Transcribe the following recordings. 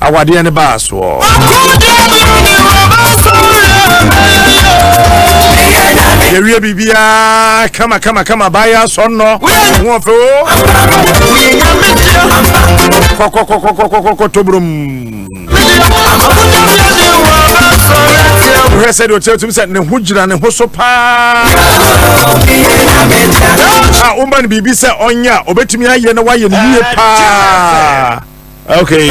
Awadeɛ no baa soɔ. yɛwie biribiaa kama kama kama baayɛ asɔ nnɔ ho ɔfɛ o kɔkɔkɔkɔkɔkɔ tobrom wohwɛ sɛ deɛ ɔkyerɛ tumi sɛ ne ho gyina ne ho so paa a woma no biribi sɛ ɔnyɛ a ɔbɛtumi ayɛ na woayɛ no yie paa okay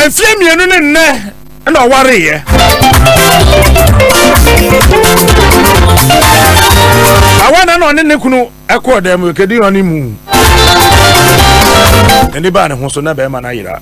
mfie mmienu ne nnɛ na ɔwareyɛ awa na na ɔne ne kunu ɛkɔɔ dɛm kɛdi ɔne mu ɛni baa ne ho so na bɛrima no ayera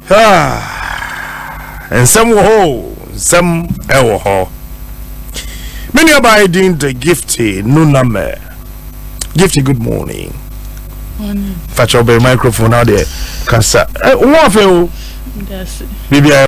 Ah, nsɛm wɔ hɔ o, nsɛm ɛwɔ hɔ. Me nuabaa yi din de Gifty Nunamɛ. Gifty, good morning. Morning. Fakyɛ ɔbɛn microphone na ɔdeɛ kasa. Ɛ, wɔn afɛ o. Biribiara.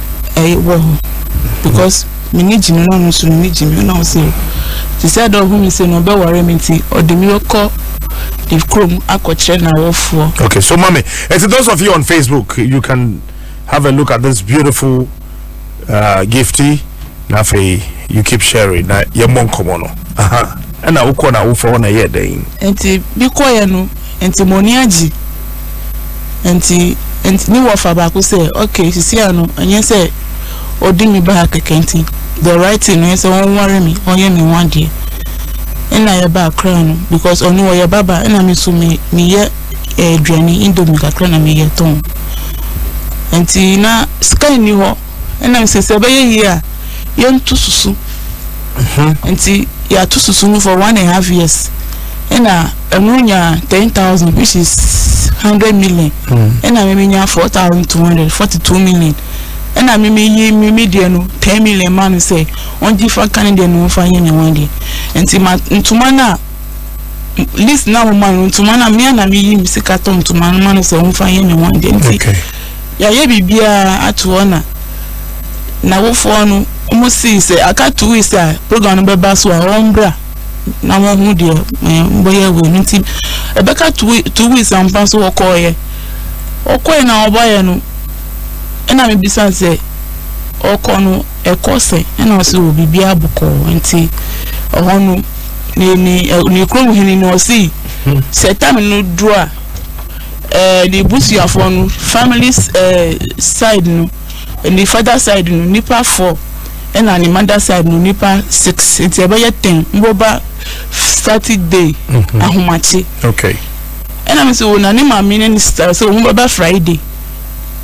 ɛy wɔ hɔ because me ne gyi no na ɔno nso ne ne gyi me na ɔsɛ o te sɛ dɛ ɔhu me sɛ na ɔbɛware me nti ɔde me kɔ ne kurom akɔkyerɛ n'awofoɔ. okay so mami ɛti those of you on facebook you can have a look at this beautiful uh, gifty na afei you keep sharing na yɛmmɔ nkɔmmɔ no ɛna wokɔ na awofoɔ hɔ na ɛyɛ dɛn nti bi kɔyɛ no Nti mo ani agye? Nti nti ne wɔfa baako sɛ okay sisi ano ɛnyɛ sɛ ɔdi me baa kɛkɛ nti the right thing ɛyɛ sɛ wɔnware me ɔnyɛ me ho adeɛ ɛna yɛ baa koraa no because ɔno ɔyɛ baba ɛna me nso me meyɛ aduane indomie kakra na meyɛ tɔn nti na sika nni hɔ. Ɛna mi sɛ sɛ ɛbɛyɛ yie a, yɛnto susu. Mhm. Nti yɛato susu no for one and half years. Ɛna ɛno nya ten thousand which is hundred million. Mm. Ɛna mimi nya four thousand two hundred forty two million. Ɛna mimi yi mimi deɛ no ten million ma no sɛ ɔngye fa ka ne deɛ no ɔfa yɛ ne ho adeɛ. Nti ma ntoma no a list na mo ma no ntoma no a mmea na mi yi mi sika tɔ ntoma no ma no sɛ ɔmfa yɛ ne ho adeɛ. Nti. Okay. Yɛayɛ biribiara ato hɔ na n'awofoɔ no wɔn sii sɛ aka two weeks a program no bɛba so a wɔn bra na wɔn ho deɛ ɛɛ mbɔyɛ wei no nti ɛbɛka two two weeks ampa so wɔkɔɔyɛ wɔkɔɔyɛ na wɔbaeɛ no ɛna mi bisa sɛ ɔkɔ no ɛkɔ sɛ ɛna ɔsɛ wɔ biribiara bɔkɔɔ nti ɛhɔ no ne ne ne kurom hene no ɔsii sɛ tam no duro a. ɛɛ ne busuafoɔ no family ɛɛ side no ne father side no nipa four ɛna ne mother side no nipa six nti ɛbɛyɛ ten mboba saturday mhm. ahomakye okay ɛna mi sɛ wɔn na ne maame ne ne sista sɛ wɔn bɛba friday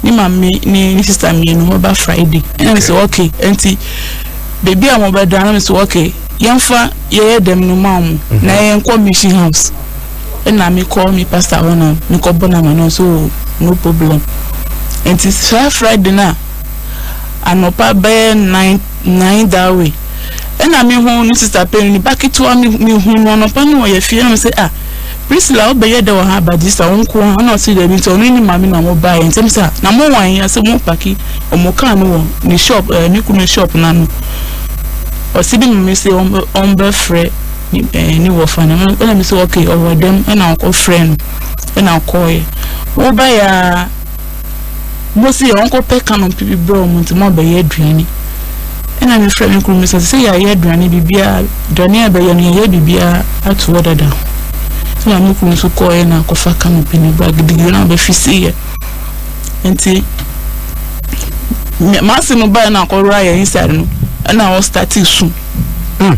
ne maame ne ne sista mmienu wɔn bɛba friday ɛna mi sɛ okay nti beebi a wɔn bɛda ɛna mi sɛ okay yɛnfa yɛyɛ dɛm no maa wɔn mhm. na yɛn kɔ mission house. nna mekɔ me pastor hɔ na mekɔbɔ no ama no ɔse oh no problem nti saa Friday no a anɔpa bɛyɛ nine nine that way nna mehu ne sister pɛn ne ba ketewa mehu no anɔpa no ɔyɛ fie na me se ah Priscilla wobɛyɛ dɛ wɔ ha ba this a wo nko ha na ɔse daabi nti ɔno ne maame na ɔmo baeɛ nsɛm sɛ a na mo wɔn yɛ sɛ mo paki ɔmo kaa no wɔ ne shop ɛɛ eh, me kunu shop no ano ɔse bi ma me se ɔmbɛfrɛ eh, ne wɔfa no ɛna me sɛ okay ɔwɔ dɛm ɛna ɔkɔfrɛ no ɛna ɔkɔɔyɛ wobaeɛ a mosi yɛ ɔnkɔpɛ kanom pipi brɛ ɔmo nti mo abɛyɛ aduane ɛna mefrɛ me kuru me sɛ sɛ yɛayɛ aduane biribiara aduane a ɛbɛyɛ no yɛyɛ biribiara ato hɔ dada ho ɛna me kuru nso kɔɔyɛ na akɔfa kanom pi ne ba gidigidi na ɔbɛfi si yɛ nti maase no baeɛ na akɔwura yɛ inside no ɛna ɔstate su mm.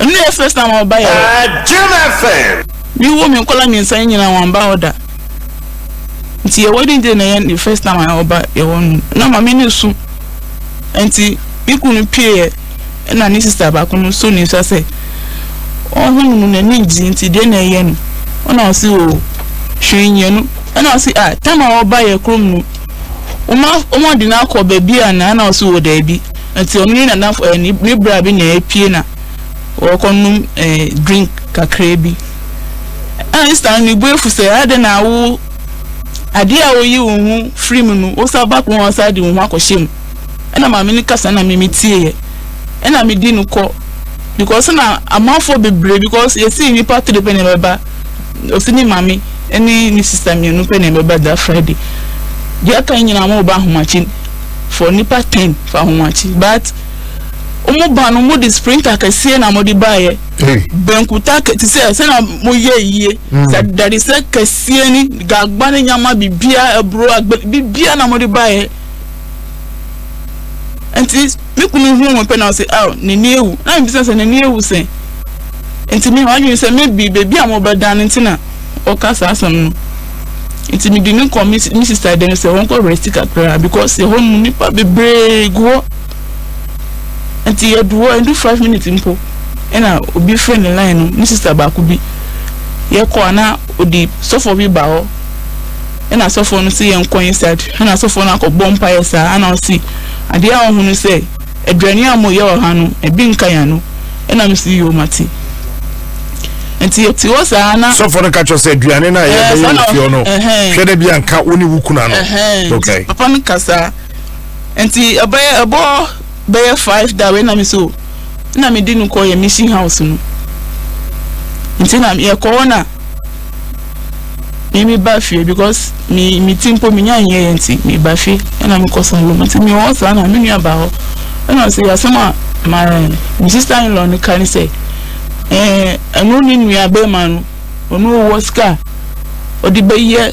Ɛno na ɛfrɛ sɛ na wɔn ba yɛ hɔ. Jam FM. Me wɔ me nkɔla mmiɛnsa no nyinaa wɔn ba hɔ da. Nti yɛ wedding day na yɛ first time a wɔn ba yɛ hɔ no. Na maame no su. Nti me kunu pie yɛ ɛna ne sista baako no so ne nsa sɛ ɔho no mu n'ani gye nti deɛ na ɛyɛ no. Ɔna ɔsi o oh, hwee nyɛ no. Ɛna ɔsi a ah, tam a wɔn ba yɛ kurom no. Wɔn wɔn de no akɔ baabi a na ɛna ɔsi wɔ oh, daabi. Nti ɔno ne nana eh, ne, ne bra bi na ɛpie na wɔkɔnom eh, drink kakraa bi. Ɛna ne sista no ne bu afu sɛ adɛn na wo adeɛ a woyi wo ho firi mu no wosa back ho a wosa de wo ho akɔhyɛ mu. Ɛna maame no kasa na me metieɛ. Ɛna medi no kɔ because na amanfoɔ bebree because yɛsi nnipa three pɛ na ɛbɛba ɔsi ne maame ne ne sista mmienu pɛ na ɛbɛba da Friday. Deɛ aka nyinaa mo ba ahomakye for nipa ten fa ho akyi but ɔmo ba no ɔmo de sprinter kɛseɛ na ɔmo de baayɛ benkuta kɛ te sɛ sɛ na mo yɛ yie mm. sɛ dade sɛ kɛseɛ ni gagba ne nyama bibia aburo agbɛ bibia na ɔmo de baayɛ nti me kunu hu wɔn pɛ na ɔsɛ aw n'ani ewu na mi bisa sɛ n'ani ewu sɛ nti mi ha adwene sɛ mebi beebi a mo bɛ dan no nti na ɔka saa asɛm no. nti mede no kɔ me me sista dan sɛ wɔnkɔ rest kakra because ɛhɔ no nipa bebree gu hɔ nti yɛdu hɔ ɛdu five minutes mpo ɛna obi frɛ ne line no ne sista baako bi yɛkɔ ana odi sɔfo bi ba hɔ ɛna sɔfo no sɛ yɛnkɔ inside ɛna sɔfo no akɔbɔ mpaeɛ saa ɛna ɔsi adeɛ a ɔhunu sɛ Aduane a wɔyɛ wɔ ha no, ebi nka yɛn ano. Ɛna mese, Yoo, mate. Nti yɛte hɔ saa na. Sɔfo no ka kyerɛ sɛ aduane no a yɛbɛyɛ wɔ fie hɔ no, hwɛ dɛ bi anka wo ne wo kunu ano. Okay. Papa no ka saa. Nti ɛbɛyɛ ɛbɔ bɛyɛ five da wei na mese o. Na mede no kɔ yɛ mission house no. Nti na yɛkɔ hɔ na. me me ba fie because me me ti mpo menya nyɛ yɛ nti me ba fie ɛna me kɔ salon nti me wɔ saa na me nua ba hɔ ɛna sɛ yasɛm a ma me sister in law no ka ne sɛ ɛɛ ɛno ne nua bɛrima no ɔno ɔwɔ sika ɔde bɛyɛ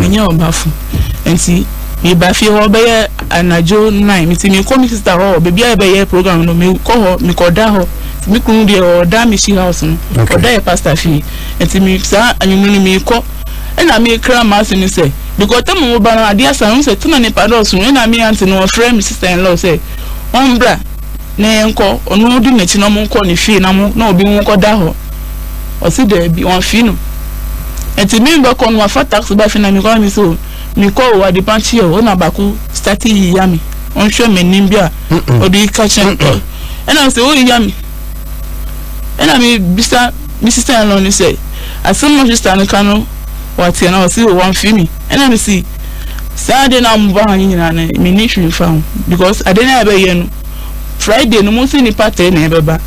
Menyɛ ɔbafo. Nti meba fie hɔ bɛyɛ anadwo nnan. Nti mekɔ me sista hɔ baabi a yɛbɛyɛ program no mekɔ hɔ mekɔda hɔ. Nti me kunu deɛ ɔda me shi house no ɔda yɛ pastor fie. Nti me saa anwummerɛ no mekɔ ɛna mekra m'ase no sɛ because tam a wɔba no adeɛ asa no sɛ tena nipa dɔɔso no ɛna me aunty no ɔfrɛ me sister in law sɛ ɔmbra na yɛnkɔ, ɔno ɔdi n'akyi na monkɔ ne fie na mo na obi monkɔda hɔ. Ɔse daabi, wɔamfii no. Nti me mbɛkɔ no, mafa taxi ba fie na mekɔ na mese o, mekɔ o, adepa kye o, na baako starte yiya me, ɔnhwɛ m'anim bi a ɔde reka kyerɛ me. Ɛna ɔse woyiya me? Ɛna mebisa me sister-in-law no sɛ, asɛm a sister no ka no, wateɛ? Na ɔse o, wɔamfii me. Ɛna mese. saa ade no a wɔn ba ha no nyinaa no me ni hwee fa ho because ade no a ɛbɛyɛ no friday no mo nso nipa three na ɛbɛba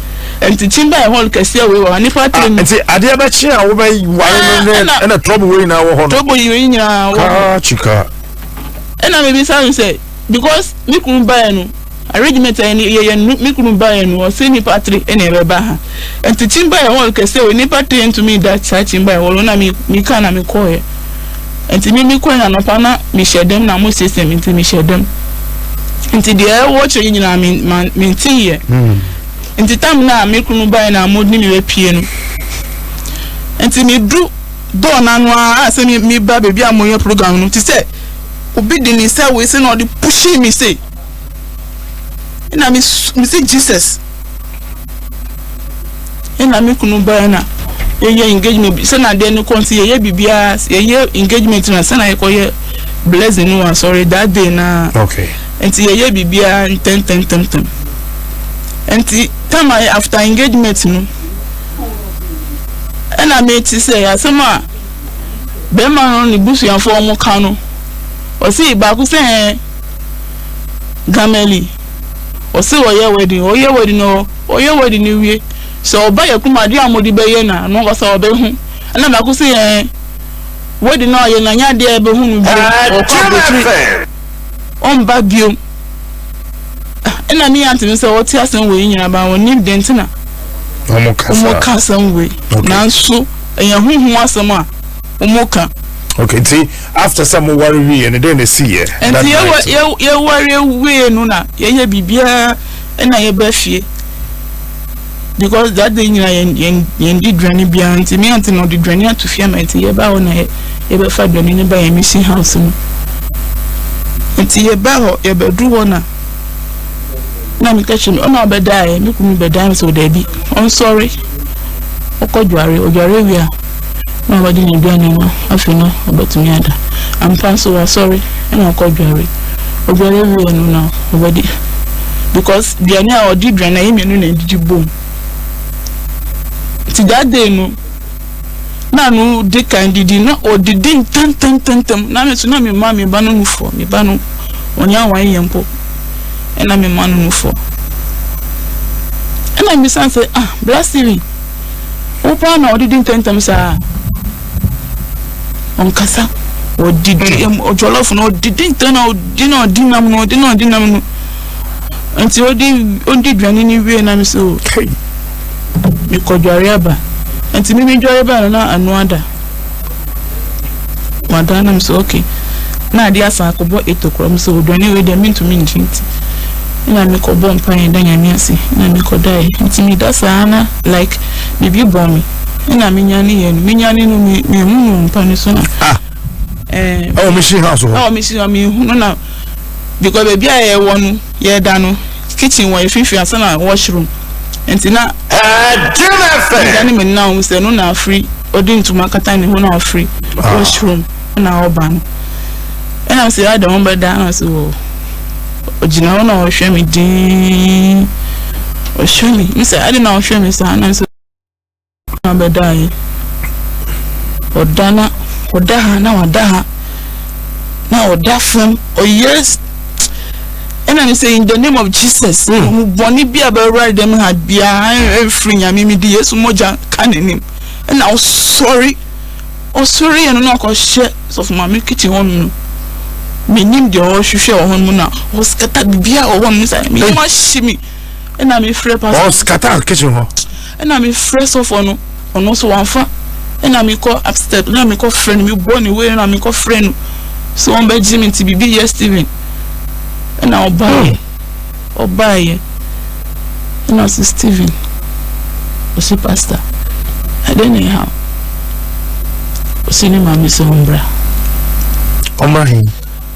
nti kyimba yɛ hall kɛseɛ wei wɔ hɔ nipa three mu nti adeɛ bɛkye a wobɛ ware no ne ɛna trouble wei nyinaa wɔ hɔ no trouble wei nyinaa wɔ hɔ ɛna mebisa no sɛ because me kunu baeɛ no arrangement a yɛyɛ no me kunu baeɛ no ɔsɛ nnipa tiri na ɛbɛba ha nti kyin baeɛ hall kɛse o nnipa tiri ntumi da saa kyin baeɛ hall na me me ka na me kɔɔɛ nti me me kɔɛ na nɔpa na me hyɛ dɛm na mo siesie me nti me hyɛ dɛm nti deɛ ɛwɔ kyerɛ yi nyinaa me ma me nti yɛ hmm. nti tam na me kunu baeɛ na mo ne me bɛ pie no nti me du dɔɔ n'ano a sɛ me me ba beebi a mo yɛ program no ti sɛ. obi de ne nsa wei se na ɔde pushee me sei na me me se jesus na me kunu baa na yɛyɛ engagement sɛ na adeɛ no kɔ nti yɛyɛ biribiara yɛyɛ engagement na sɛ na yɛkɔyɛ blessing no wɔ asɔre that day na okay nti yɛyɛ biribiara ntɛntɛntɛntɛm nti time a after engagement no ɛna mete sɛ asɛm a bɛrima no ne busuafo a ɔmo ka no, ɔsee baako sɛ ɛɛ Gamali ɔse ɔyɛ wedding ɔyɛ wedding no ɔyɛ wedding no wie sɛ ɔba yɛ kuma adeɛ a ɔmo de bɛyɛ na no ankasa ɔbɛ hu ɛna baako se ɛɛ wedding no ayɛ na nyɛ adeɛ a yɛbɛ hu no bio ɔkɔ abotire ɔmba biom. ɛna ne yɛate no sɛ wɔte asɛm wei nyina ba wɔnim deɛ nti na wɔka asɛm wei nanso ɛyɛ honhom asɛm a wɔka okay nti after sɛ moware wieɛ no dɛn na ɛsiiɛ nti yɛware wieɛ no na yɛyɛ biribiaa ɛna yɛba fie because that day nyina yɛn yɛn yɛn di duane biara nti me ante na ɔde duane ato fie ama nti yɛba hɔ na yɛ yɛbɛfa duane no ba yɛn mission house no nti yɛba hɔ yɛbɛduru hɔ na na meka kyerɛ me ɔna ɔbɛdaeɛ me kunu bɛdaeɛ sɛ ɔdaabi ɔnsɔre ɔkɔ dware ɔdware wie a na ɔbɛgye n'aduane no, afei na ɔbɛtumi ada. Ampa nso, wasɔre na wakɔdware. Ɔdware wieeɛ no na ɔbɛde, because aduane a ɔde dwane no, ɛyɛ mmienu na ɛdidi bom. Nti that day no, na ano de kan didi, na ɔdidi ntɛmntɛmntɛmntɛm. Na me nso, na mema me ba no nufoɔ. Me ba no, ɔnyɛ awan yɛ mpo. Ɛna mema no nufoɔ. Ɛna mbisan sɛ, ah, Bra Steven. Wo paa na ɔdidi ntɛntɛm saa. Ɔnkasa. Ɔdidi hmm. ɛm ɔjɔlɔfo na ɔdidi ntɛn na ɔdi na ɔdi nam na ɔdi na ɔdi nam no. Nti ɔdi ɔdi duane ni wie nam so. Mekɔdware aba. Nti mimi dware ba no na ano ada. Wada no m sɛ okay na ade asan akɔbɔ eto kora m sɛ oduane wei deɛ mentumi ngye nti na mekɔbɔ mpaeɛ da nyame ase na mekɔdaeɛ nti meda saa na like biribi bɔ me ɛna menyane yɛ no menyane no mehu no mpa no so na ah. eh, ɛwɔ mehye ha so hɔ ɛwɔ mehye ha mehunu na because baabi a yɛwɔ no yɛda no kitchen wɔ efifi ansa na wash room nti na me da ne me nna ɔmo sɛ no na afiri ɔde ntoma akata ne ho na afiri ah. wash room na ɔba no ɛna ɔsɛ ada wɔn bɛ da na ɔsɛ wɔ ɔgyina hɔ na ɔhwɛ me dinn ɔhwɛ me mi sɛ ɛde na ɔhwɛ me saa na nso. na ɔbɛdaeɛ. Ɔda na ɔda ha na wada ha na ɔda fam ɔyere ɛna ne sɛ in the name of Jesus mm. ɔmo bɔne bi a bɛwura dɛm ha biara ɛfiri nyame mi de yesu mogya ka n'anim ɛna ɔsɔre ɔsɔre yɛ no na ɔkɔhyɛ sɔfo maame kitchen hɔ nom no menim deɛ ɔhwehwɛ wɔ hɔ nom na ɔskata biribiara wɔ hɔ nom sɛ meyɛ ma hye mi ɛna mefrɛ pastor ɔskata kitchen hɔ Ɛna me frɛ sɔfoɔ no ɔno nso wamfa ɛna me kɔ upstep ɛna me kɔ frɛ no me bɔ ne wei ɛna me kɔ frɛ no so wɔn bɛ gye me nti bibi yɛ Steven ɛna ɔbaayɛ ɔbaayɛ ɛna ɔsi Steven ɔsi pastor ɛdɛ na ɛha ɔsi ne maame sɛ ɔmbra ɔmbra he.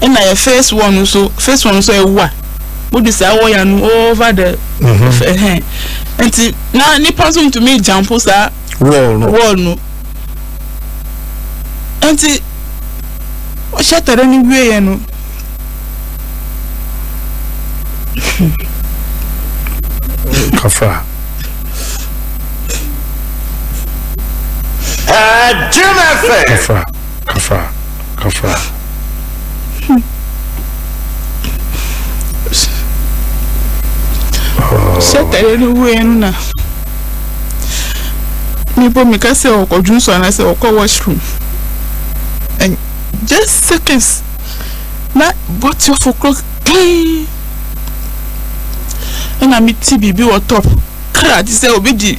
ɛna yɛ first one nso first one nso ɛwu a wodu saa wɔya no over the ɛhɛn mhm. nti na nipa nso ntumi gyampo saa wall no wall no nti ɔhyɛ tɛrɛ no wie yɛ no. kafra. Uh, Jim Kafra, kafra. Afra. Sɛ tare no wuiɛ no na mebɔ meka sɛ ɔkɔdwo nso anaasɛ ɔkɔ washroom and just seconds na bɔtiɔfo korɔ klee ɛna mete biribi wɔ top kra te sɛ obi di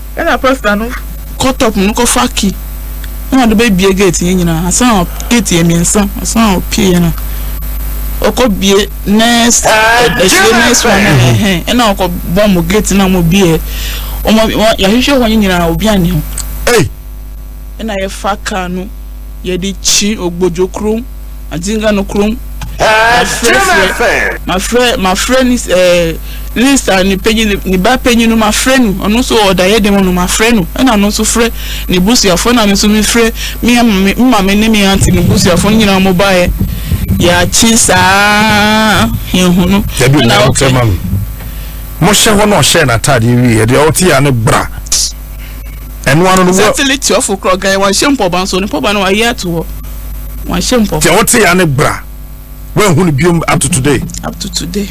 Nna pastor no kɔ top no kɔfa key na ɔde bɛbie gate yɛ nyinaa ansa na gate yɛ mmiɛnsa ansa na ɔpie yɛ na ɔkɔ bie next ɛhyɛ next one na ɛhɛn ɛna ɔkɔ bɔ mo gate na mo bie ɔmo yɛahwehwɛ hɔ nyinaa obi anni ho ɛna yɛfa kaa no yɛde kyi ogbodwo kurom. Adinga no krom. Mafrɛ frɛ mafrɛ mafrɛ ne ɛɛ Lisa ne panyin ne ne ba panyin no mafrɛ no ɔno nso ɔda yɛ dɛm no mafrɛ no ɛna no nso frɛ ne busuafo ɛna me nso mefrɛ me ama me maame ne me aunty ne busuafo no nyinaa wɔn baeɛ yɛakye saa yɛn ho no. Dabi o na ɔtɛ ma mi. Mo hyɛ hɔ na ɔhyɛ n'ataadeɛ wie yɛ deɛ ɔte yɛ ano bra. Ɛno ano no wɔ. Sɛ tele tuafo korɔ gan wɔn hyɛ mpɔba nso ne mpɔba no wɔn ayi ato hɔ wɔn hyɛ mpɔba. Deɛ wɔte ya ne bra wɔn ehu no biom up to today. Up to today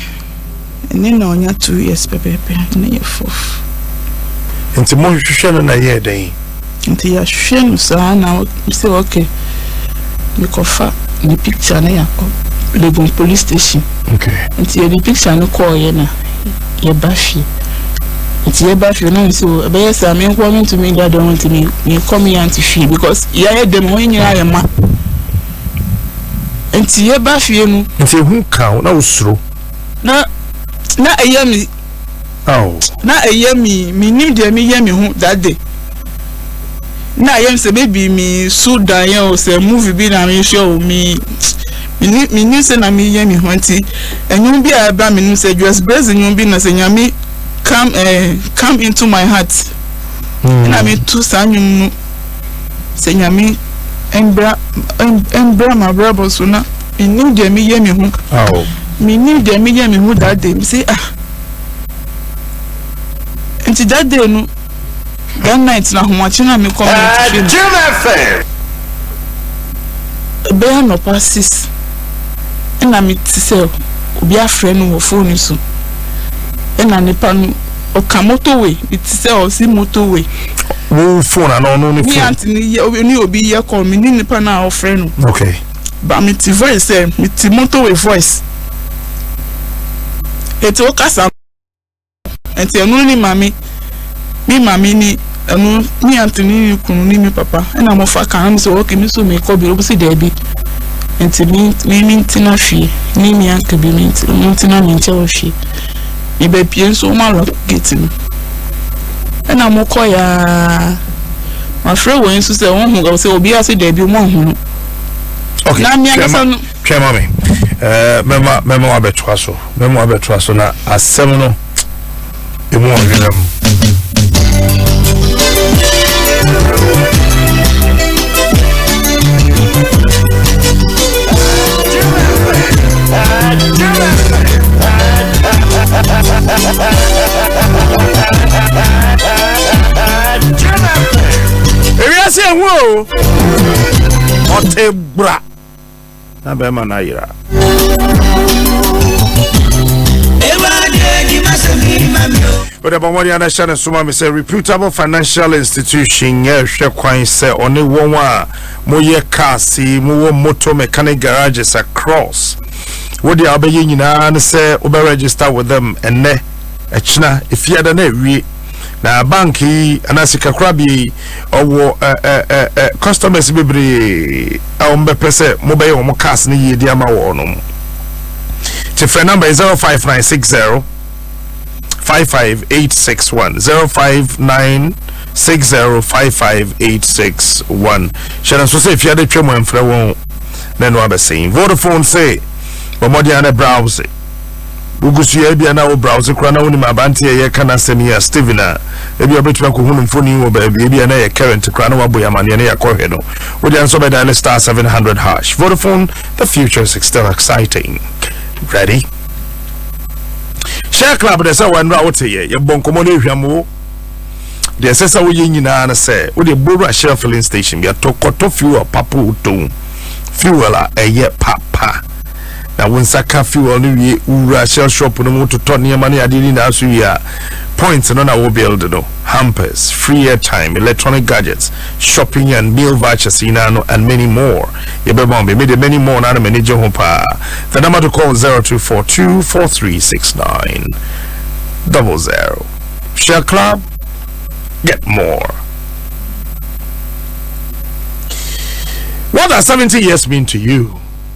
ɛne na ɔnya two years pɛpɛɛpɛ ne yɛ fof. Nti mo hwehwɛ no na yɛ dɛn. Nti yɛahwehwɛ no saa na sɛ okay mekɔfa ne picture ne yakɔ Legon police station. Okay. Nti yɛde picture no kɔɔ yɛ na. yɛba fie nti yɛba fie na nso ɛbɛyɛ saa me nkoa mentumi nda dɛm nti mekɔ me yante fie because yɛayɛ dɛm hɔ nyinaa yɛ ma nti yɛba fie no nti ehu ka wo na wosuro na na ɛyɛ me na ɛyɛ me menim deɛ meyɛ me ho that day na ɛyɛ me sɛ bɛbi me so dan yɛ o sɛ movie bi na mehwɛ o me Minni minni sɛ na meyɛ me ho nti ɛnwom bi a ɛba me nom sɛ Juas Brezzi nwom bi na sɛ Nyame come eh come into my heart ɛna me to saa nwom no sɛ Nyame ɛmbra ɛmbra m'abrabɔ so na mennim deɛ meyɛ me ho mennim deɛ meyɛ me ho that day me se ah nti that day no That night na ahomakye no a mekɔ me atifi no, ɛbɛyɛ anɔpa six ɛna mete sɛ obi afrɛ no wɔ phone so ɛna nipa no ɔka motorway mete sɛ ɔsi motorway. Wo phone ana ɔno ne phone? Mi aunty ni yɛ ni obi yɛ call mi ni nipa na ɔfrɛ no. Okay. Ba mi ti voice ɛ eh, mi ti motorway voice. Eti o kasa. Nti ɛno ne mame me mame ne ɛno ne antoni ne kunu ne me papa ɛna mo fa kan sɛ ɔkè me so me kɔ bi ɔbɛsi daabi nti me me me ntina hwie ne ne anka bi me nti mo ntina me nkyɛ wɔ hwie me bɛpie nso ɔmo alɔ gate no ɛna mo kɔ yaa mafrɛ wɔn nso sɛ wɔn ho sɛ obi ase daabi ɔmo ahu no na me ankasa no. Twɛn ma me. Ɛɛ mɛma mɛma wabɛtoa so. Mɛma wabɛtoa so na asɛm no emu ɔhwehwɛ mu. Ewia se ehu o. Ɔte bra. na bɛrima no ayera. wode bɔ mmɔden ana hyɛ no soma me sɛ reputable financial institution yɛhwɛ kwan sɛ ɔne wɔn a moyɛ cars yi mowɔ moto mechanic garages across wode a wobɛyɛ nyinaa ne sɛ wobɛregister with them ɛnnɛ ɛkyena ɛfiada na awie na bank yi anaa sikakorabea yi ɔwɔ customers bebree a wɔn bɛpɛ sɛ mobɛyɛ wɔn cars no yie de ama wɔn no te frɛ number yɛ zero five nine six zero five five eight six one zero five nine six zero five five eight six one hyɛ no nso sɛ efiade twɛ mu ɛmfrɛ wɔn na ɛno abɛsɛn vodafone sɛ wɔn mɔden ano browse. Wogu so yɛ ebia na wo browse koraa na wonim aberante a yɛka n'asɛm yi a Steven a ebia wobɛtumi akɔhu no mfoni wɔ baabi ebia na yɛ current koraa na wabɔ yɛ amanneɛ na yɛakɔhwɛ no wode nso bɛdan ne star 700 hash Vodafone the future is still exciting ready share club de sɛ wɔn nnora wote yɛ yɛbɔ nkɔmmɔ no ehwam wo deɛ ɛsɛ sɛ woyɛ nyinaa no sɛ wode bowura share filling station bi atɔ kɔtɔ fuel papo tɔn fuel a ɛyɛ papa na wo nsa ka fuel no wie wowura shell shop no mu totɔ nneɛma ne adeɛ nyinaa so wie a points no na wo build no hampers free airtime electronic gadgets shopping and meal vouchers nyinaa no and many more yɛbɛma wo meme de many more no ana m'ani gye ho paa the number to call 02424369 double zero shell club get more what does 70 years mean to you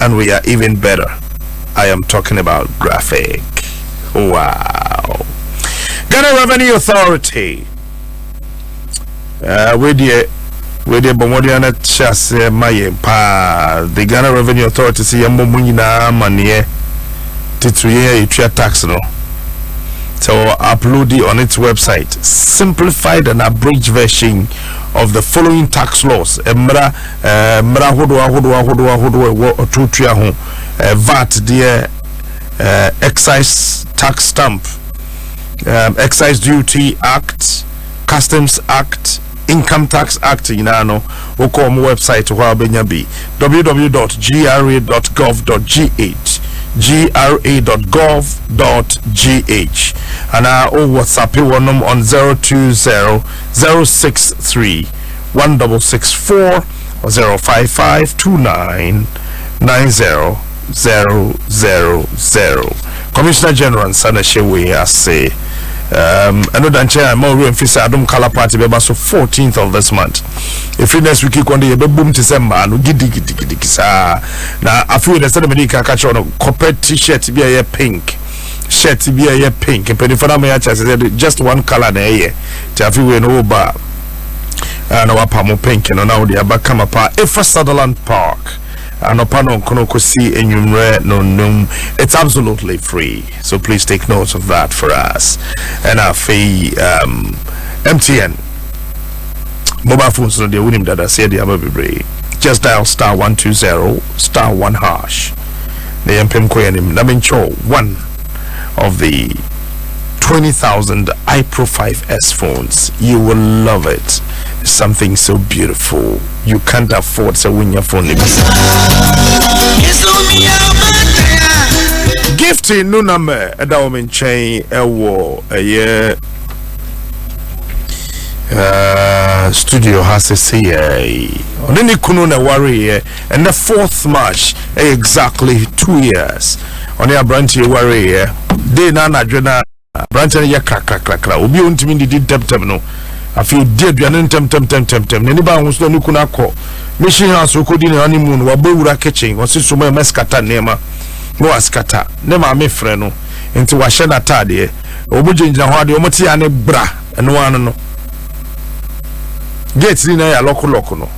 and we are even better I am talking about graphic wow Ghana Revenue Authority uh, wei deɛ wei deɛ bɔ mmɔden ana hyɛ aseɛ ma yɛn paa the Ghana Revenue Authority sɛ yɛmmɔ mu nyinaa amaneɛ titiri yɛn a yɛtua tax no So upload it on its website simplified and abridged version of the following tax laws. Emra ɛɛ mmara ahodoɔ ahodoɔ ahodoɔ ahodoɔ ɛwɔ ɔtotua ho ɛɛ vat deɛ ɛɛ excise tax stamp ɛɛ excise duty act customs act income tax act nyinaa no wokɔ wɔn website hɔ a wobɛnya bi www.gra.gov.gh gra.gov.gh anaa wowɔ sape wɔnom on 020 063 one double six four zero five five two nine nine zero zero zero zero commissioner general nsa na ɛhyɛ wei ase ɛno da nkyɛn a ma owurɛ mfi sɛ adom color party bɛba so 14th of this month ɛfiri next week kɔn de yɛbɛbom te sɛ mmaa no gidigidigidigi saa na afei dɛ sɛde mede ka ka kyerɛ no copper t-shirt bi a ɛyɛ pink shirt bi a ɛyɛ pink mpanimfoɔ no ama yɛakyɛ sɛ just one color na ɛyɛ nti afei wei no woba a na wapa mo pink no na wode aba kama paa ɛfa sutherland park anɔpa no nkono kɔsi anwummerɛ no num it's absolutely free so please take note of that for us ɛna afei um, mtn mobile phones no deɛ wonim dada sɛ ɛde aba bebree just dial star 120 star 1 hash na yɛmpem kɔ yɛnim na menkyɛw 1 of the 20,000 iPro 5S phones. You will love it. Something so beautiful. You can't afford so when your phone. Gifty no number ɛda wɔn nkyɛn ɛwɔ ɛyɛ studio ha sese yɛ ɔne ne kunu na ɛwareeɛ. And the fourth March ɛyɛ exactly two years ɔne aberanteɛ wareeɛ dei na anadwo no aberanteɛ no yɛ krakrakrakra obi a ɔntumi ndidi ntɛmtɛm no afei ɔdi aduane no ntɛmtɛmtɛmtɛm n'ani baa ho so na ne kunu akɔ mission house ɔkɔdi ne honeymoon wabɔ wura kitchen ɔse so ma ɛma skata nneɛma na waskata ne maame frɛ no nti wahyɛ n'ataadeɛ wɔn gyinagyina hɔ adeɛ wɔn te ya ne bra ɛno ano no gate ni na yɛ alɔkolɔko no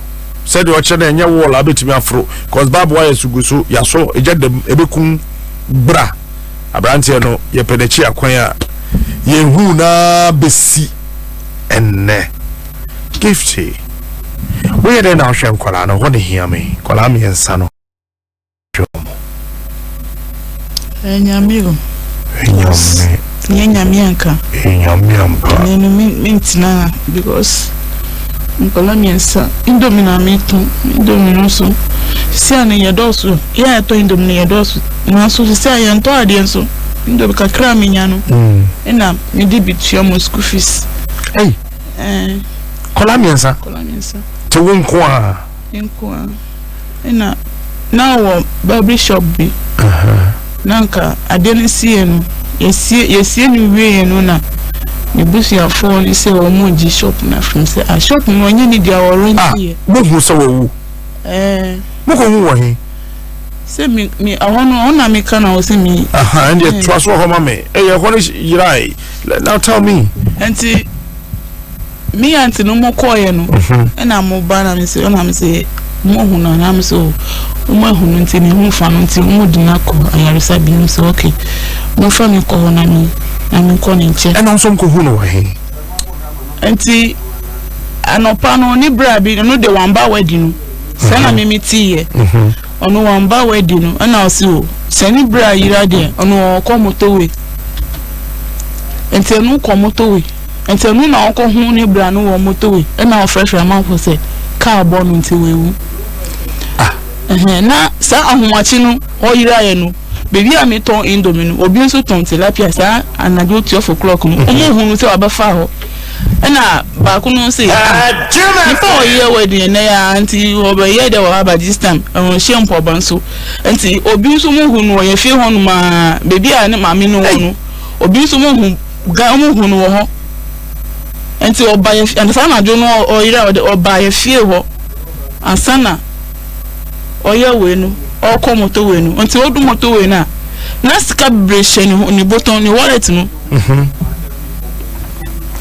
sɛdeɛ ɔkyerɛ no ɛnyɛ wall abɛtumi aforo cause bab wire so gu so yasɔ ɛgya dam ɛbɛkum bra aberanteɛ no yɛpɛ n'akyi akwan a yɛnhu na bɛsi ɛnnɛ gifty woyɛ dɛn na wohwɛ nkwadaa no hɔ ne hia me nkwadaa mmiɛnsa no wɔn. Ɛyɛ Nyame o. Ɛnyɛ ɔme. Ɛnyɛ Nyame anka. Ɛyɛ Nyame ampa. Ɛnɛ no me me ntena ha because nkɔla mmiɛnsa indomie na me tɔn indomie no so sisi a no yɛ dɔɔso yɛ a yɛtɔ indomie no yɛ dɔɔso nanso sisi a yɛn tɔ adeɛ nso indomie kakra a me nya no mm. ɛna me de bi tua mo school fees. Ɛyi. Ɛɛ. Kɔla mmiɛnsa. Kɔla mmiɛnsa. Te wo nko a. Nkoa na na ɔwɔ barber shop bi na anka adeɛ no siyɛ no yɛsie yɛsie no wieɛ no na ne busuafoɔ no sɛ wɔn mo gye shop no afim sɛ a shop no wɔnyɛ ne dua wɔ rent ah, yɛ. mo hu sɛ wɔwu. ɛɛ. mo kɔ hu wɔ he. sɛ mi mi ɛhɔ no ɔna mi ka na ɔsɛ mi. aha ɛn deɛ tura so hɔ ma mi ɛyɛ ɛhɔ no yirae now tell me. nti. me aunty no mo kɔɔyɛ no mhm. ɛna mo ba na me se ɛna me se mo hu no na me se o mo ahu no nti ne ho fa no nti mo de no akɔ ayaresa bi me se okay mo fa me kɔ hɔ na me na me kɔ ne nkyɛn ɛna nso nkɔ hu no wɔ he nti anɔpa no ne bra bi no de wamba wadi no sɛ na mhm. me me ti yɛ mhm. ɔno wamba wadi no ɛna ɔse o sɛ ne bra yira deɛ ɔno ɔkɔ motowe nti ɛno kɔ motowe Ntsi ɔno na ɔkɔhon ne bra no wɔ motorway na ɔfrɛfrɛ amamfo sɛ kaar bɔ no ntsi oewu. Ɛhɛn, na saa ahomakye no ɔyeraeɛ no, baabi a metɔn indomie no, obi nso tɔn tilapia saa anadwo twelve o'clock no, wɔn mhm. hunu sɛ wabɛfa hɔ. Ɛna baako no se, ah, ah nipa a ɔyɛ wedding ɛnɛ yɛ a, nti ɔbɛyɛ dɛ wɔ aba this time, ɛnhyɛ mpɔba nso. Nti obi nso mo hu no, ɔyɛ fie hɔ nom a, baabi a ne maame no wɔ no, obi nso mo hu Guy ɔmo hu no wɔ hɔ nti ɔba yɛ fie saa anadwo no ɔyere a ɔde ɔba yɛ fie hɔ ansa na ɔyɛ wei no ɔkɔ moto wei no nti ɔdu moto wei no a na sika bebree hyɛ ne ne botɔn ne wallet no mhm.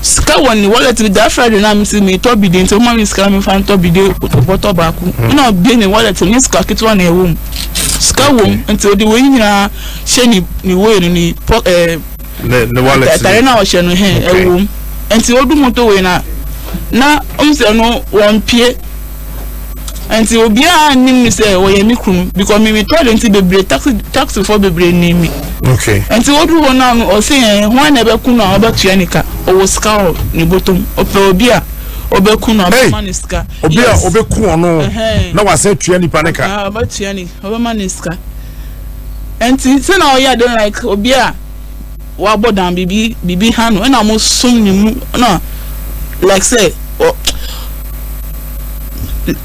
sika wɔ ne wallet no daa friday na mi si mi tɔ bi de nti ɔmo mi sika mi fa ntɔ bi de bɔtɔ baako mhm. na ɔbie ne wallet no ne sika ketewa na ɛwɔ mu sika wɔ mu nti ɔde wei nyinaa hyɛ ne ne wei no ne pɔ ɛɛ. Eh, ne ne wallet. atare no a ɔhyɛ no hɛn ɛwom nti odu motorway na na ɔmo sɛ no wɔn pie nti obiara nim mi sɛ wɔyɛ mi kunu because mi mi tɔɔle nti bebree taxi taxi fo bebree nim mi nti odu hɔ naa no ɔsi yɛn ho ɛna ɛbɛ kunu a ɔbɛ tua ne ka ɔwɔ sika wɔ ne botom ɔpɛ obi a ɔbɛ kunu a ɔbɛ ma ne sika obi a ɔbɛ kun ɔno na wasɛ tua nipa ne ka ɔbɛ tua ne ɔbɛ ma ne sika. Ntsi sɛ nna ɔyɛ dɛn like obi a ɔabɔ dam biribi biribi ha no nna mosom no mu na like sɛ ɔ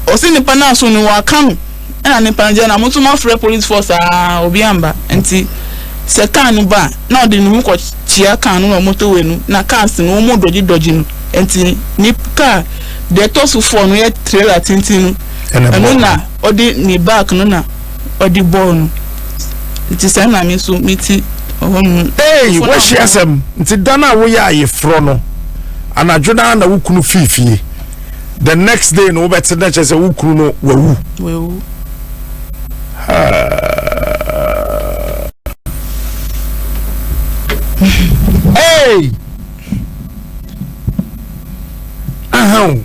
ɔse nyimpa no aso no ɔaka no nna ne mpa no gyina na moso moafrɛ police force aa obi ammba ntsi sɛ car no ba a na ɔde no ho kɔ kyia car no wɔ motorway no na cars no wɔmɔ dɔgye dɔgye no ntsi ne car deɛ ɛtɔ so four no yɛ trailer tsentsen no ɛno na ɔde ne back no na ɔde bɔɔ no nti saa na me nso me ti ɔhɔ nom. ee wɔahyɛ asɛm nti dan a woyɛ ayeforɔ no anadwo no na wo kunu fii fie the next day no wobɛte na kyerɛ sɛ wo kunu no wawu. wawu. ee ahan.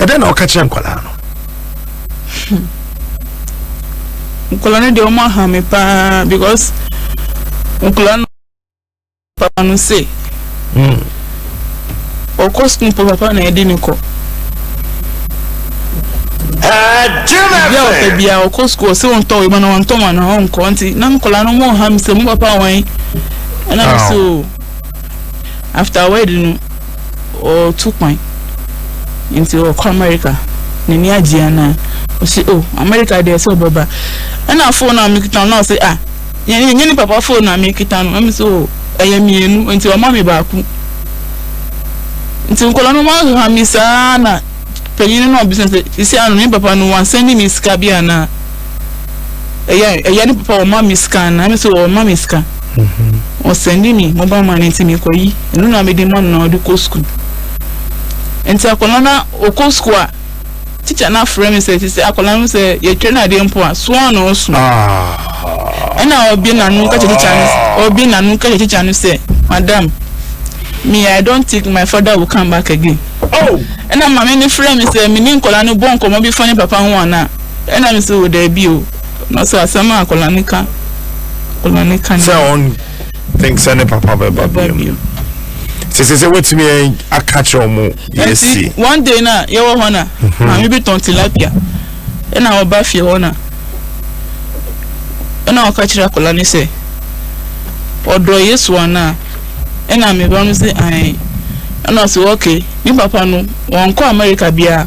ɛdɛn na ɔka kyerɛ nkwadaa no hmm. nkwadaa no deɛ ɔmo aha me paa because nkwadaa no papa no se hmm. ɔkɔ sukuu pɔ papa na ɛde ne kɔ ebi a ɔpɛ bia ɔkɔ sukuu ɔsɛ wɔn tɔn ɛma na wɔn tɔn wɔn na wɔn nkɔ nti na nkwadaa no ɔmo ha mi sɛ mo papa wɔn ɛna mo so after wedding no. ɔretu kwan nti ɔkɔ America n'ani agye anaa ɔsi o oh, America deɛ sɛ ɔbɛba ɛna phone a mekita no ɔsi ah nyɛ nyɛ ne papa phone a mekita no ɛmi sɛ o oh, ɛyɛ mmienu nti ɔma mi baako nti nkɔla no ma ha mi saa na panyin no na ɔbisa sɛ sisi ano ne papa no wansɛn ne mi sika bi anaa. ɛyɛ ɛyɛ ne papa ɔma me sika na ɛmɛ sɛ ɔma me sika ɔsɛnde mi mobile money nti mekɔyi ɛno na mede ma no na ɔde kɔ sukuu nti akwadaa na ɔkɔ sukuu a tikya no afrɛ me sɛ te sɛ akwadaa no sɛ yɛtwa no adeɛ mpo a soa na ɔso ɛna ɔbie n'ano ka kyɛ tikya no ɔbie n'ano ka kyɛ tikya no sɛ madam me i don't think my father will come back again ɛna maame no frɛ me sɛ me ne nkwadaa no bɔ nkɔmɔ bi fa ne papa ho anaa Ɛna me so daabi o. Na so asɛm a akwadaa no ka akwadaa no ka. Sɛ ɔn think sɛ ne papa bɛba bio. Sese sɛ wetumi aka kyerɛ ɔmo yɛsi. One day na yɛwɔ hɔ na mhm. maame bi tɔn tilapia ɛna ɔba fie hɔ na ɛna ɔka kyerɛ akwadaa no sɛ ɔdɔ yesu anaa ɛna meba no sɛ ae ɛna ɔsɛ okay ne papa no wɔnkɔ america biara.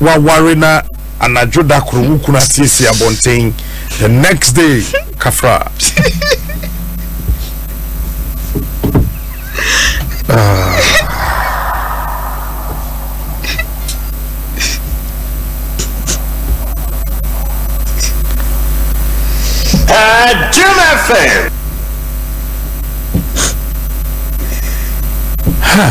waware na anadwo da koro wo kunu asiesie abɔnten the next day kafra ah. Uh, Jim FM. Huh.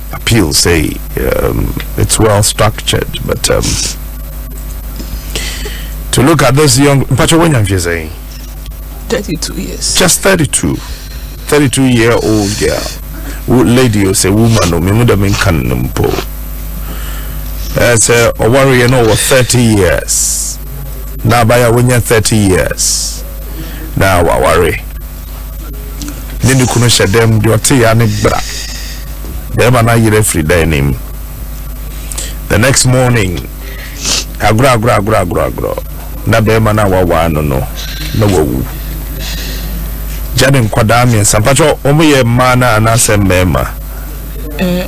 appeal say um, it's well structured but um, to look at this young mpakyɛ wanya mfie sɛn 32 years just 32 32 year old girl wo lady o sɛ woman no memu dɛ menka no mpo ɛɛ sɛ ɔwareɛ no ɔwɔ 30 years na abaya wonya 30 years na waware ne ne kunu hyɛ dɛm deɛ ɔte ya ne bra bɛrima no ayerɛ afiri dan no mu the next morning agorɔ agorɔ agorɔ agorɔ agorɔ na bɛrima no a wawaa no no na wawu gya ne nkwadaa mmiɛnsa mpakyɛ wɔn yɛ mmaa no anaasɛ mmarima eh.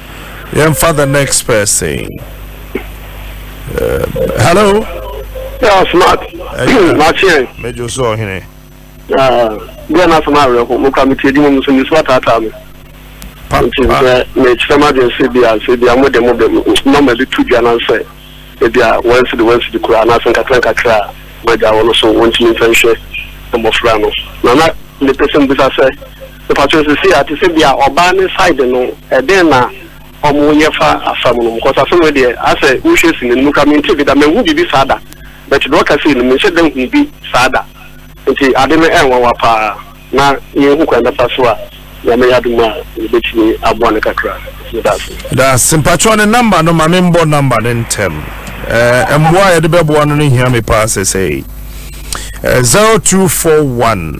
yɛmfa the next person um, hello yeah, smart makyeɛn mɛdwo so ɔhene deɛ no asɛm awerɛho mokora metie di mu mu so mesu ataataa me nti sɛ mekyerɛ m adwene sɛ bia sɛ bia mode mo bɛ nɔma bi to dwa no sɛ ebia wɔnsi de wɔnsi de koraa anaasɛ nkakra nkakra a magya wɔ no so wɔntumi mfa nhwɛ mmɔfra no na na mepɛ sɛ mbisa sɛ Mepakyɛw sesei a te sɛ bia ɔbaa ne side no ɛdɛn na ɔmo yɛ fa asa mu no mu cos asɛm wei deɛ asɛ wohwɛ sini no mu koraa mente bi da manhu biribi saa da but deɛ ɔka sei no menhyɛ da nhu bi saa da nti ade no ɛnwanwa paa na yɛnhu kwan bɛfa so a nyame yɛ adom a yɛbɛtumi aboa no kakra medase. Medase mpakyɛw ne number no ma me mbɔ number no ntɛm ɛɛ mboa a yɛde bɛboa no no hia me paa sesei ɛɛ zero two four one.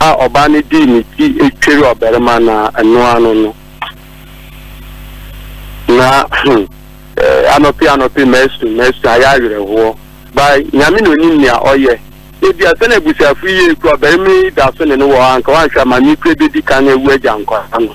a ɔbaa no dii ne ti tweri ɔbarima no ɛno ano no. Na hmm, eh, anɔpe anɔpe masu masu ayɛ awerɛhoɔ. Ba nyame na onim nea ɔyɛ. Ebi asɛ na abusuafo yi yɛ ekura ɔbarima yi da so ne no wɔ hɔ anka wanhwɛ ama me kura bedi kan awu agya nkwadaa no.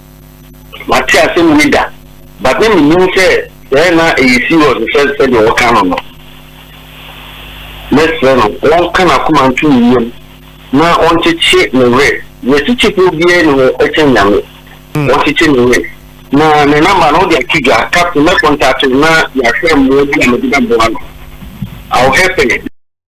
Mate asɛm wei da, but na minnim sɛ sɛɛ na ɛyɛ serious sɛ sɛdeɛ wɔka no no. Mɛsrɛ no ɔnka n'akoma nto ne yam na ɔnkyekye ne werɛ. Deɛ kyekyefoɔ biara nni ho kyɛn Nyame. Ɔnkyekye ne werɛ. Na ne number no wode ato dwa. Captain, mɛcontate wo na yɛahwɛ mmoa bi a mede bɛboa no. I will help him.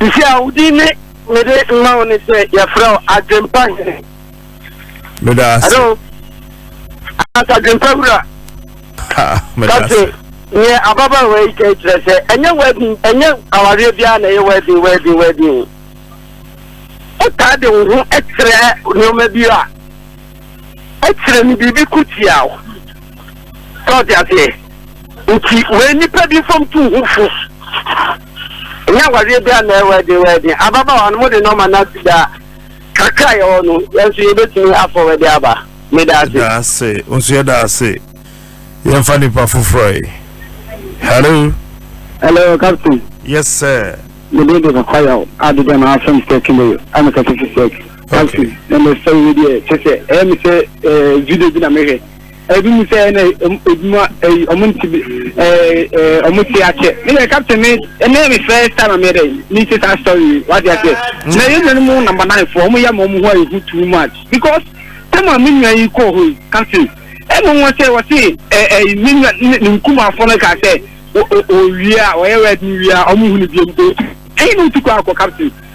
Sisi a, wo din ne mede ma wo ne sɛ yɛfrɛ wo Adwempa Hene. Meda ase. Hello. Anaasɛ Adwempa Wura. Ha, meda ase. Kase, neɛ ababaawa yi ka yi kyerɛ sɛ ɛnyɛ wedding, ɛnyɛ awareɛ biara na ɛyɛ wedding, wedding, wedding. Wotaa de wo ho kyerɛ nneɛma bi a ɛkyerɛ no biribi ko tia wo. Sɛ ɔte aseɛ. Nti wei nipa bi fam tu ho fo. Ɛnyɛ awareɛ bi a na ɛwɔ ɛden wɔ ɛden. Ababaawa no, mode nɔma no asi da a, kakra a yɛwɔ no, yɛn nso yɛbɛtumi afɔw ɛde aba. Meda ase. Yɛda ase. Wo nso yɛda ase. Yɛmfa nipa foforɔ yi. Hello. Hello, Captain. Yes, sir. Mede de kakwa yaw adeda na afɛm sɛ kele ama kɛse sɛ captain na mɛ sɛ wo deɛ kyɛ sɛ ɛyɛ me sɛ video bi na mehwɛ Ebi mu sɛ na edwuma ɛyi ɔmo nti bi ɛɛ ɔmo ti akyɛ. Ne yɛ captain me ɛnɛ me first time me dɛ me ti saa story wadi akyɛ. Mm. Na yɛ nyɛ mo number nine fo ɔmo yɛ mo ɔmo ho ayi ho too much because tɛm a me nua yi kɔ hɔ yi captain ɛna wɔn sɛ wɔsi ɛɛ ɛyi me nua ne ne nkumafo no ka sɛ o o o wie a wɔyɛ wɛd no wie a ɔmo hu ne bi mu o ɛyi na otu kɔ akɔ captain.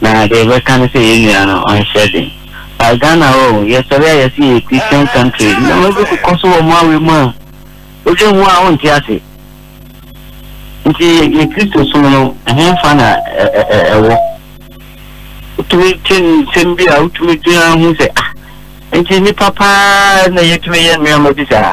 na deɛ yɛbɛka ne sɛ yɛn nua no ɔnhyɛ den but Ghana hɔ o yɛsɔre a yɛse yɛyɛ Christian country nneɛma bi kokɔ so wɔ mo awe mu a wodwen ho a wonte ase nti yɛ Kristo som no ɛhemfa na ɛwɔ wotumi te nsɛm bi a wotumi dwen ho sɛ ah nti nipa paa na yɛtumi yɛ nneɛma bi saa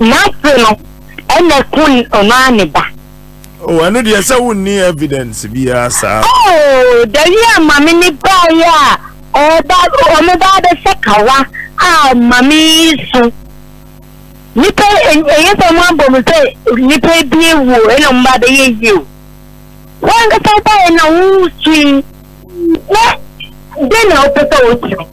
N'ase no ɛna ku ɔno ara ne ba. Oh, ɛno deɛ sɛ wonni evidence biara saa. Oh, dawi a mame ne baeɛ a ɔba ɔmo ba abɛsɛ kawa a mame yi so. Nipa ɛyɛ sɛ ɔmo abɔ mo sɛ nipa bi ewuo ɛna ɔmo ba abɛyɛ yie o. Wɔn ankasa baeɛ na wosui na den na wopɛ sɛ wotumi.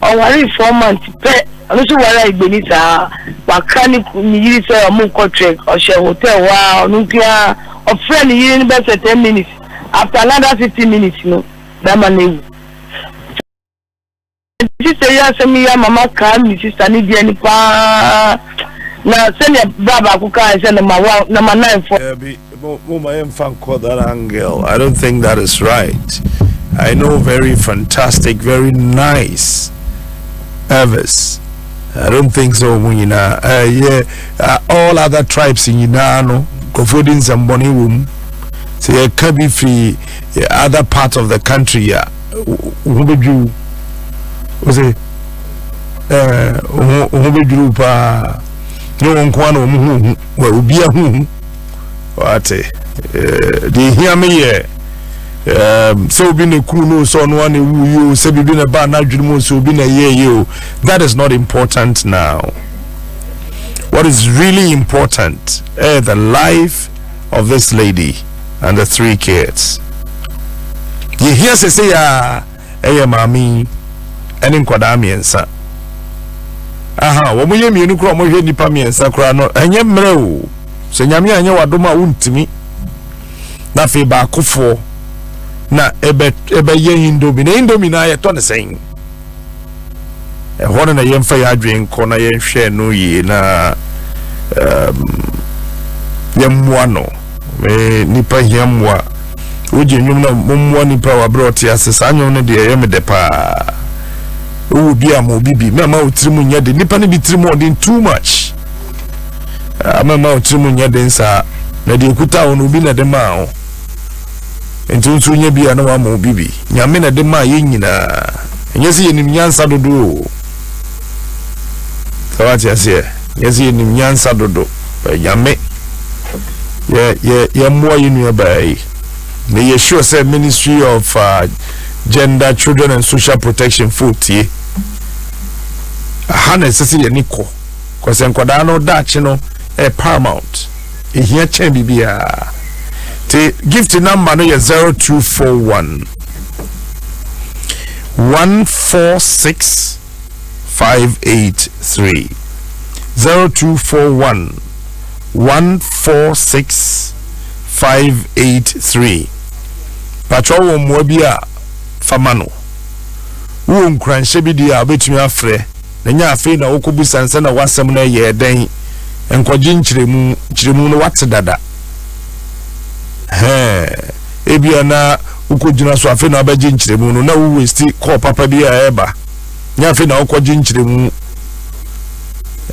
Ɔwaree four months pɛ, ɔno nso ware Agbeni saa, wakra ne ku ne yiri sɛ wɔrekɔ trek, ɔhyɛɛ hotel hɔ ara, ɔno nko ara, ɔfrɛɛ ne yere no bɛsɛ ten minutes, after another fifteen minutes no, bɛrima no awu. Me sister yi asɛm yi ama makaa me sister ne deɛ no pa ara, na sɛdeɛ bra baako kaeɛ sɛ number one, number nine foɔ. Daabi, Momma yɛmfa nkɔ that angle. I don't think that is right. I know very fantastic, very nice Evis. I don't think so. Mu nyinaa uh, yeah, uh, all other tribes nyinaa no nkurɔfoɔ di nsɛmbɔne wɔ mu. Sɛ yɛka bi firi other part of the country a ho bɛdwiriw wo sɛ ho bɛdwiriw paa ne wɔn nkoa na wɔn ho hu obi ahu hu wate eh, deɛ ɛhia me yɛ eh, sɛ obi na kuru no sɛ ɔno ana ɛwu yi o sɛ biribi na ɛbaa no adwene mu sɛ obi na ɛyɛ yi o that is not important now what is really important eh, the life of this lady and the three kids yɛhia sɛ sɛ yɛa yɛ maame yi ne nkwadaa mmiɛnsa. Aha, wɔn yɛ mmienu koraa wɔhwɛ nnipa mmiɛnsa koraa no, ɛnyɛ mmerɛ o. Sɛ nyame anyɛ wadom a wontumi. Na afei baakofoɔ na ɛbɛyɛ indomie. Na indomie no ayɛtɔ ne sɛn? Ɛhɔ no na yɛmfa yɛn adwene nkɔ na yɛnhwɛ no yie na um, yɛmmoa no. Me nipa hia mmoa. Wogye nnwom na mommoa nipa wɔ abere ɔte ase. Saa nnwom no deɛ ɛyɛ me dɛ paa. Wowɔ bi a ma obi bi. Mɛma wo tirim nyɛ de. Nipa no bi tirim ɔden too much. Ah, mɛma wo tirim nyɛ den saa. Na deɛ ekuta wo no obi na de maa wo. Enti wo nso wonya bi a na wama wo bi bi. Nyame na ɛde maa yɛn nyinaa. Ɛnyɛ sɛ yɛnim nyansa dodo o. Sɛ wate aseɛ? Ɛnyɛ sɛ yɛnim nyansa dodo. Nyame yɛ yɛ yɛmmoa yɛn nua baa yi. Na yɛ sure sɛ Ministry of uh, Gender, Children and Social Protection fo tie. Aha na ɛsɛ sɛ yɛne kɔ. Kɔsɛ nkwadaa no daakye no ɛyɛ paramount. Ehia kyɛn biribiara. Te gift number no yɛ zero two four one one four six five eight three zero two four one one four six five eight three. Patro wɔ mmoa bi a fama no. Wowɔ nkuranhyɛ bi di a wobɛtumi afrɛ. Na nyɛ afei na wokɔbisa no sɛ na w'asɛm no ɛyɛɛ dɛn, nkɔgye nkyerɛmu, nkyerɛmu no wate dada. Hɛɛ, ebia na wokɔgyina so afei na wabɛgye nkyerɛmu no, na wo westi kɔɔ papa bi a ɛreba. Nyɛ afei na wokɔgye nkyerɛmu.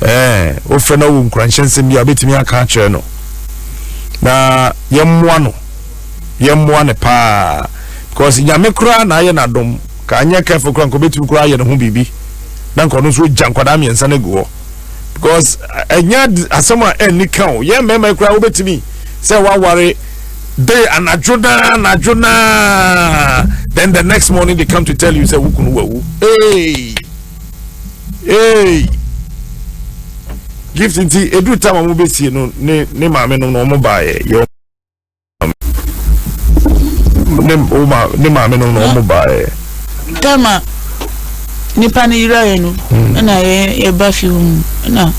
Ɛɛ, wofrɛ na wo nkuranhyɛ nsɛm bi a wobɛtumi aka akyerɛ no. Na yɛmmoa no, yɛmmoa no paa, because nyame koraa na ayɛ n'adom. Ka anyɛ careful koraa nka obetumi koraa ayɛ ne ho biribi na nka ɔno nso ogya nkwadaa mmiɛnsa no agu hɔ because ɛnyɛ asɛm a ɛnni ka o yɛn mmarima koraa wobetumi sɛ waware day anadwo naa anadwo naa then the next morning they come to tell you sɛ wukunu wawu ee ee gift nti edu tam a wɔn bɛsie no ne ne maame nom na wɔn baayɛ yɛ wɔn. ne wo ma ne maame no na wɔn baeɛ. tama nipa no yiraeɛ no hmm. ɛna yɛba fie hɔ mu ɛna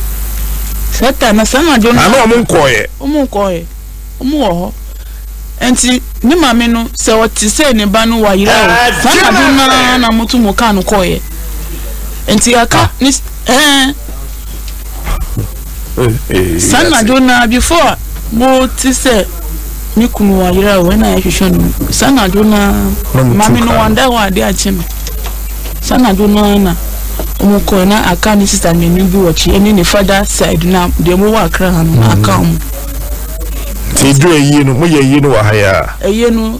saa ta na saa anadwo no ana wɔn nkɔɔyɛ wɔn nkɔɔyɛ wɔn wɔ hɔ nti ne maame no sɛ ɔte sɛ ne ba no wayera o ah, saa anadwo no na moto mo kaa no kɔɔyɛ nti aka ah. ne ɛɛ. Saa anadwo no ara, before a mote sɛ me kunu wayera o, ɛna yɛhwehwɛ no. Saa anadwo no ara, maame no wanda hɔ ade akye no. Saa anadwo no ara na wɔkɔe na aka ne sista mmienu bi wɔ akyi, ɛne ne fada side na deɛ mowɔ akra ha no, na aka wɔn. Nti ɛduru ayie no, moyɛ ayie no wɔ ha yi ara? Ayie no.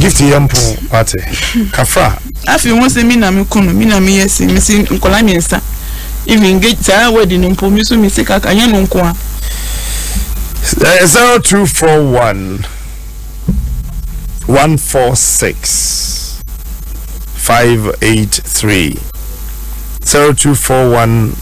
gift yɛ mpɔn wate kafra. afi ho sɛ mi na mi ko no mi na mi yɛ si mi si nkɔla mmiɛnsa even ge saa wɛdi no mpo mi so mi si kaka nyɛ no nko a. Eh, zero two four one one four six five eight three zero two four one.